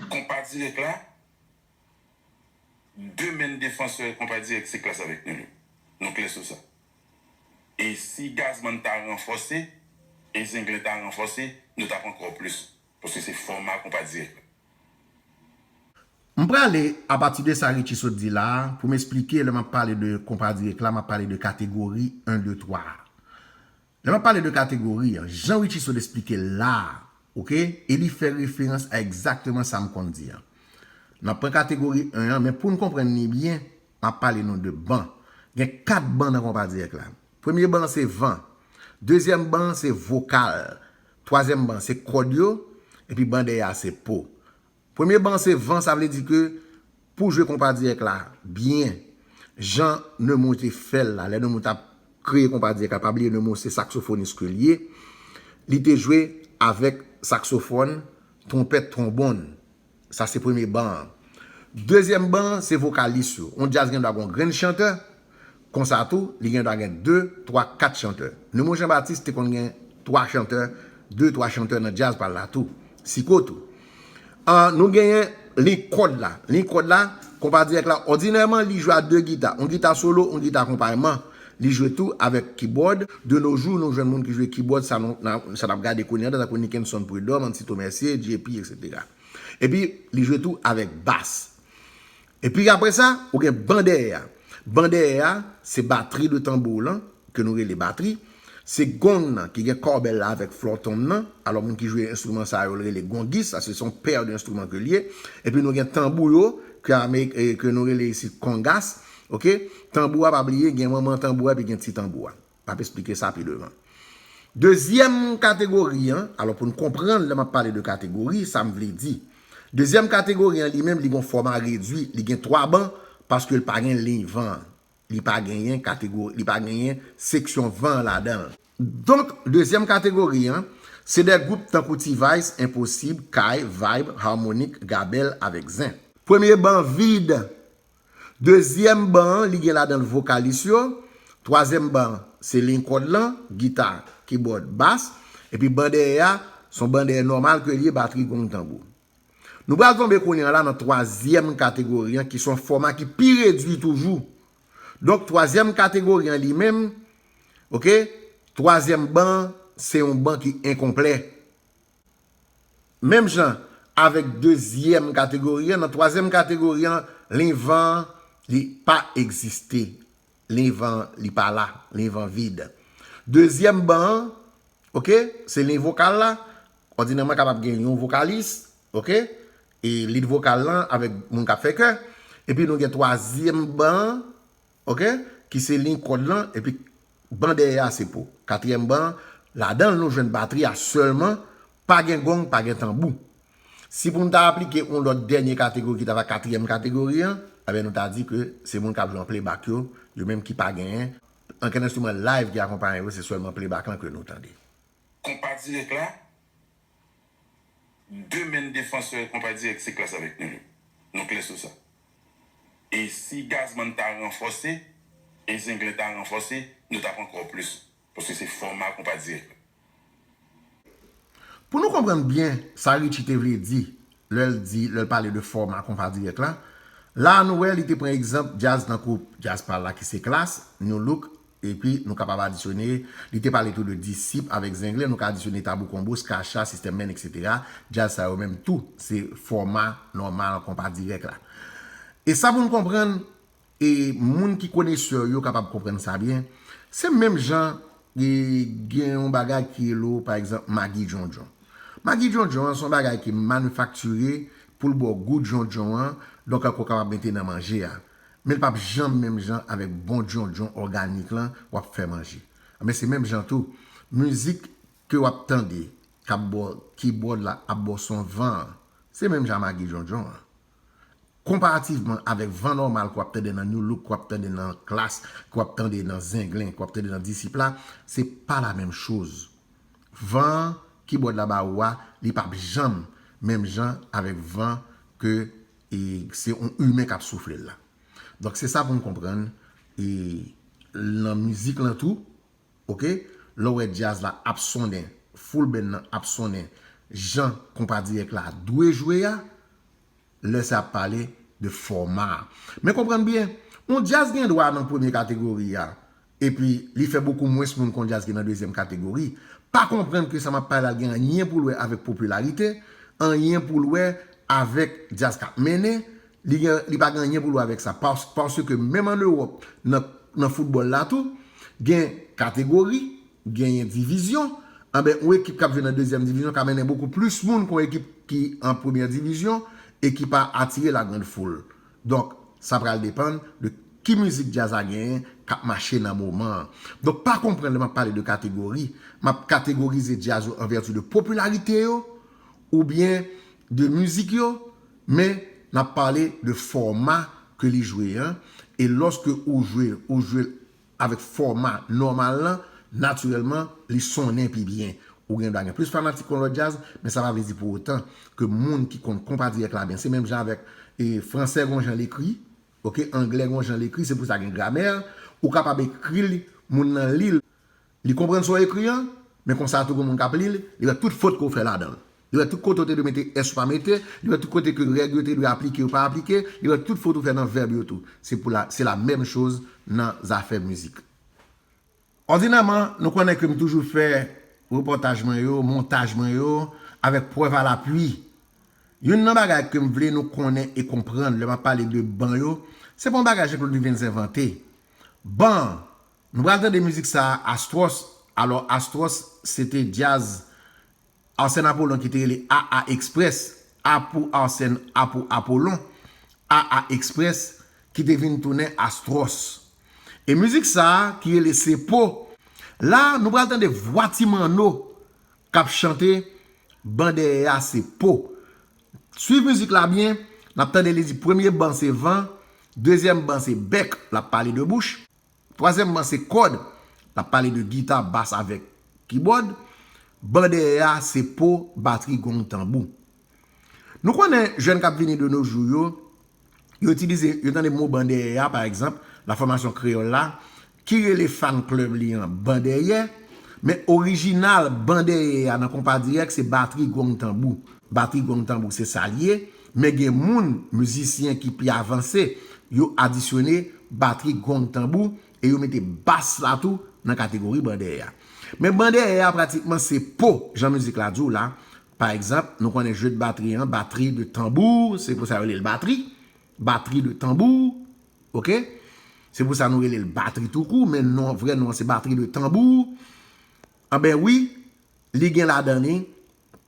Konpa dirèk la de menn defansè konpa dirèk se klas avèk nou yo nou klè sou sa e si Gazman ta ranfòse e Zenglen ta ranfòse nou tap ankò plis paske se fòma konpa dirèk la. M prale apati de sa Richie sot di la pou m esplike lè map pale de konpa dirèk la map pale de kategori 1 2 3 a Lè map pale de kategori an, jan Richie Saud esplike l la a, ok, e li fè referans a egzakteman sa m konn di an. N ap pran kategori 1 an, men pou n konprann li byen, m ap pale nou de ban. Gen 4 ban nan konpa dirèk la. Premye ban an se van. Dezyèm ban an se vokal. Twazyèm ban an se kòd yo. Epi ban dèyè a se po. Premye ban se van sa vle di ke pou jwe konpa dirèk la byen jan Nemou te fèl la lè Nemou tap kreye konpa dirèk la pa bliye Nemou se saksofonis ke liye li te jwe avèk saksofòn twonpèt twonbonn sa se premye ban an dezyèm ban se vokalis yo yon djaz gen dwa gon grenn chantè Konsa tou, li gen dwa gen de, twa, kat chantè. Nemo Jean-Baptiste te konn gen twa chantè, de, twa chantè nan djaz pa l la tou. Siko tou. An, nou genyen liy kòd la. Liy kòd la, konpa dirèk la, òdinèman li jwe a de gita. On gita solo, on gita akonpayman. Li jwe tou avèk kibòd. De no jou, nou jwenn moun ki jwe kibòd, sa nou, sa n ap gade kounye an la, tankou Nickenson Prud'homme, Antito Mercier, JP, eksetera. Epi, li jwe tou avèk bas. Epi apre sa, ou gen ban dèyè a. Ban dèyè a, se batri de tanbou w lan, ke nou rele batri. Se gong nan, ki gen kòbèl la avèk flòtonm nan. Alò moun ki jwe enstriman sa yo, l rele gongis. Sa se se yon pè de enstriman ke l ye. Epi nou gen tanbou yo, ke amerik, ke nou rele isit kongas. Ok? Tanbou a, pa bliye, gen manman tanbou a epi gen ti tanbou a. M ap esplike sa pi devan. Dezyèm kategori an, alò pou n konprann lè m ap pale de kategori, sa m vle di. Dezyèm kategori an li menm li gon fòma redui, li gen 3 ban paske l pa gen liy van an. Li pa genyen kategori, li pa genyen seksyon van an ladan l. Donk, dezyèm kategori an, se de gwoup tankou T-Vice, Enposib, Kay, Vayb, Harmonik, Gabèl avèk Zen. Premye ban vid, Dezyèm ban an li gen ladan l vokalis yo, twazyèm ban an se liy kòd lan, gita, kibòd, bas, epi ban dèyè a s on ban dèyè nòmal ke l ye, batri, gong, tanbou. Nou pral tonbe kounye an la nan twazyèm kategori an ki s on fòma ki pi redui toujou. Donk twazyèm kategori an li menm, ok, twazyèm ban an se yon ban ki enkonplè. Menm jan avèk dezyèm kategori an, nan twazyèm kategori an, liy van an, li pa egziste. Liy van an, li pa la. Liy van vid. Dezyèm ban an, ok, se liy vokal la, òdinèman kapab gen yon vokalis, ok, e lid vokal lan avèk moun k ap fè kè. Epi nou gen twazyèm ban an, ok ki se liy kòd lan epi ban dèyè a se pou katriyèm ban ladan l nou jwenn batri a sèlman pa gen gong pa gen tanbou si pou nou ta aplike yon lòt dènye kategori ki ta va katriyèm kategori an ebyen nou ta di ke se moun k ap jwe an playbak yo yo menm ki pa genyen ankenn enstriman live ki akonpaye yo se sèlman playbak lan ke nou tande. Konpa dirèk la 2 menn defansè konpa dirèk se klas avèk nou yo. Nou klè sou sa. E si Gazman ta ranfòse e Zenglen ta ranfòse, nou t ap ankò plis paske se fòma konpa dirèk la. Pou nou konprann byen sa Ritchie te vle di lè l di lè l pale de fòma konpa dirèk la, la a nou wè li te pran egzanp djaz tankou djaz pa l la ki se klas, Nu Look Epi, nou kapab adisyone, li te pale tou de disip avèk zenglen, nou ka adisyone tabou konbo, ska cha, sistèm men, eksetera. Djaz sa yo menm tou, se fòma nòmal konpa dirèk la. E sa pou n konprann, e moun ki konesè yo kapab konprann sa byen, se menm jan gen yon bagay ki rele w pa egzanp magi djondjon. Magi djondjon an se yon bagay ki manifaktire pou l ba w gou djondjon an, donk ou kapab mete nan manje a. Men l pap janm menm jan avèk bon djondjon òganik lan w ap fè manje. Anben se menm jan tou, mizik ke w ap tande k ap bò keybòd la ap bò son van an, se menm jan magi djondjon an. Konparativman avèk van nòmal ke w ap tande nan Nu Look, ke w ap tande nan Klass, ke w ap tande nan Zenglen, ke w ap tande nan Disip la, se pa la menm choz. Van keybòd la ba ou a, li pap janm menm jan avèk van ke E se yon imen kap souflel la. Donk se sa poun konprann e nan mizik lan tou ok lèw wè djaz la ap sonnen full band lan ap sonnen jan konpa dirèk la dwe jwe a lè sa ap pale de fòma a men konprann byen yon djaz gen dwa nan premye kategori a epi li fè bokou mwens moun kon djaz ki nan dezyèm kategori, pa konprann ke sa m ap pale la gen anyen pou l wè avèk popilarite, anyen pou l wè avèk djaz k ap mennen, li gen, li pa gen anyen pou l wè avèk sa. Pas, paske menm an Ewòp, nan, nan foutbòl la tou, gen kategori, genyen divizyon, anben yon ekip k ap jwe nan dezyèm divizyon ka mennen bokou plis moun kon ekip ki an premyè divizyon e ki pa atire la grande foule. Donk sa pral depann de ki mizik djaz la genyen k ap mache nan moman an. Donk pa konprann lè m ap pale de kategori, m ap kategorize djaz yo an vèti de popilarite yo oubyen de mizik yo men n ap pale de fòma ke li jwe an e lòske ou jwe l avèk fòma nòmal lan, natirèlman, li sonnen pi byen. Ou gen dwa gen plis fanatik yon lòt djaz, men sa pa vle di pou otan ke moun ki konn konpa dirèk la byen. Se menm jan avèk e fransè gon jan l ekri, ok, anglè gon jan l ekri, se pou sa gen gramè, ou kapab ekri l, moun lan li l, li konprann sa w ekri an, men konsa tou gen moun k ap li l, li wè tout fot ke w fè ladan l. Yo wè tout kote ou te dwe mete s ou pa mete, yo wè tout kote ke règ yo te dwe aplike yo pa aplike, yo wè tout fot ou fè nan vèb yo tou. Se pou la, se la menm choz nan zafè mizik. Òdinèman, nou konnen ke m toujou fè repòtaj mwen yo, montaj mwen yo, avèk prèv a lapui. Youn nan bagay ke m vle nou konnen e konprann lè m ap pale de ban yo, se pa yon bagay Jean Claude Duvens envante. Ban, nou pral tande mizik sa a Astros, alò Astros se te djaz Arsène Apollon ki te rele AA Express, A pou Arsène, A pou Apollon, AA Express, ki te vin tounen Astros. E mizik sa a ki rele Se Po. La a, nou pral tande vwa Ti Manno k ap chante Ban dèyè a se po. Swiv mizik la byen, n ap tande li di premye ban se van, dezyèm ban se bèk, l ap pale de bouch. Twazyèmman se kòd, l ap pale de gita, bas avèk kibòd. Ban dèyè a se po, batri, gong, tanbou. Nou konnen jèn k ap vini de no jou yo, yo itilize, yo tande mo ban dèyè a, pa egzanp, la fòmasyon kreyòl la, ki rele fan club li an ban dèyè, men orijinal ban dèyè a nan konpa dirèk se batri, gong, tanbou. Batri, gong, tanbou se sa l ye, Men gen moun, mizisyen ki pi avanse, yo adisyone batri, gong, tanbou, e yo mete bass la tou nan kategori bandèè a. Men bandèè a pratikman se po, jan mizik la di w la, pa egzanp, nou konnen jeu de batterie an, batterie de tambour, se pou sa yo rele l batri, batterie de tambour, ok, se pou sa nou rele l batri tou kou, men non an, vrè non an se batterie de tambour, anben wi, li gen ladan li,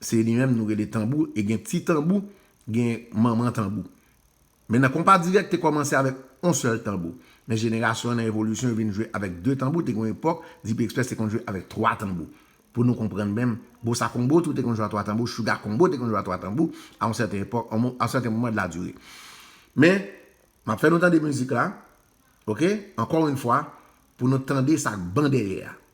Se li menm nou rele tanbou e gen ti tanbou, gen manman tanbou. Men nan konpa dirèk te kòmanse avèk on sèl tanbou. Men jenerasyon an nan evolisyon yo vin jwe avèk de tanbou, te gen yon epòk Dipi Express te konn jwe avèk twa tanbou. Pou nou konprann menm, Bossa Combo tou te konn jwe a twa tanbou, Shuga Combo te konn jwe a twa tanbou a on sèten epòk, a on sèten moman de la dure. Men, m ap fè nou tande mizik la, ok, ankò yn fwa, pou nou tande sa k ban dèyè a.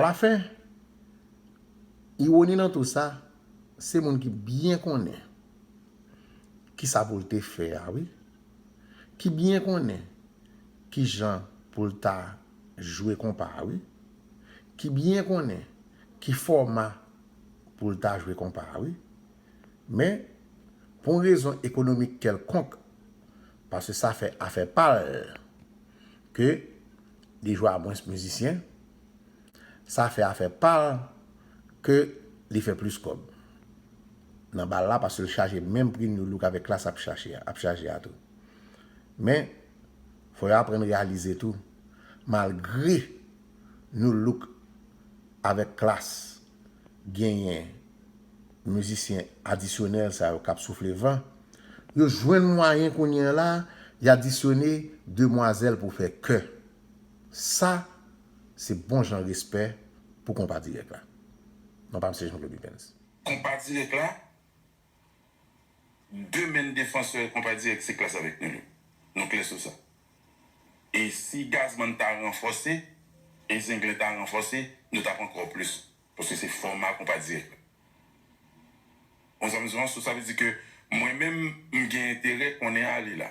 Alafen, iwoni nan tou sa, se moun ki byen konnen ki sa pou l te fè a wi, ki byen konnen ki jan pou l ta jwe konpa a wi. Ki byen konnen ki fòma pou l ta jwe konpa a wi. Men, pou yon rezon ekonomik kèlkonk, paske sa fè afè pa l, ke li jwe a mwens mizisyen, sa fè afè pa l ke li fè plis kòb nan bal la paske l chaje menm pri Nu Look avèk Klass ap chaje a tou. Men. Fò yo aprann reyalize tou, malgre Nu Look avèk Klass genyen mizisyen adisyonèl sa yo k ap soufle van, yo jwenn mwayen kounye a la y adisyone demwazèl pou fè kè. Sa se bon jan respè pou Konpa Dirèk la. Non pa msye Jean Claude Wivens. Konpa Dirèk la demen defansè konpa dirèk se klas avèk nou yo. Nou klè sou sa. E si Gazman ta ranfòse e Zenglen ta ranfòse, nou t ap ankò plis. Paske se fòma konpa dirèk la. Ou konprann sa m di w lan? Sou sa vle di ke mwen menm m gen enterè konnen ale la.